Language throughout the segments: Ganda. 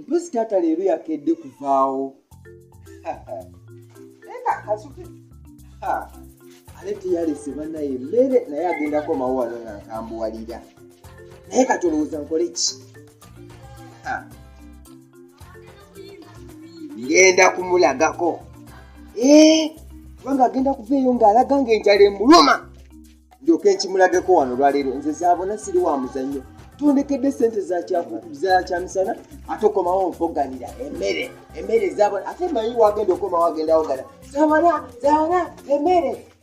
mpozi taata leero yakedde kuvaawo ale teyalese banaye mmere naye agendako mawo wano nga nkambuwalira naye katolowooza nkole ki ngenda kumulagako eh, kubanga agenda kuva eyo ng'alaga ng'enjala emuluma ndyoka enkimulageko wano olwaleero nze zaabona siri wa muzannyo tondekedde sente zakyamisana ate okomawo onfoganira emere emere zabona ate manyi wagenda okomawo agenda wogana zabona zabona emere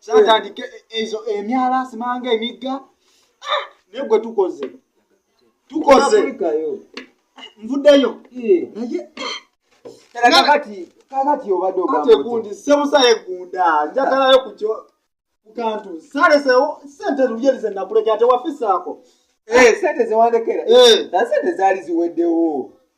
kyatandika ezo emyala simanga emigga ah, naye gwe tukoze tukoze nvuddeyo naye kakatiobadogundi sebusa yegunda njagalayo kukyo kukantu salesewo sente luyerize nakulekera tewafisaako eh, sente zewandekera eh. sente zaali ziweddewo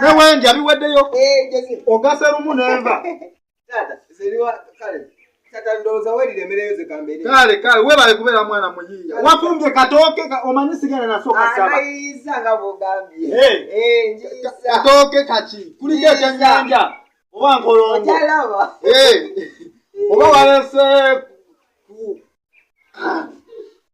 ne wenja biweddeyo ogase lumu nenva kale kale webale kubeera mwana muyiiya wafumbye katooke omanyi sigenda nasokasabakatooke kaki kuliko ekyenyanja oba nkolongo oba walese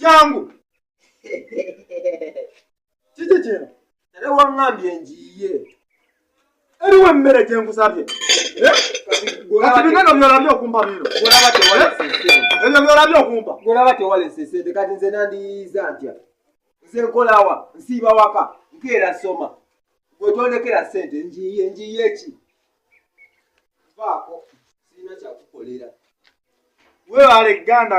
jangu kiki kino era waŋŋambye njiiye eriwo emmere gye nkusabye eh? kati bigano byolabye okumpa bino ebyo byolabye okumpa golaba tewalese sente kati nze nandiyiiza ntya nze nkolawa nsiiba waka nkeera soma gwetondekera sente njiiye njiiye ki vaako sirina kyakukolera webaale ganda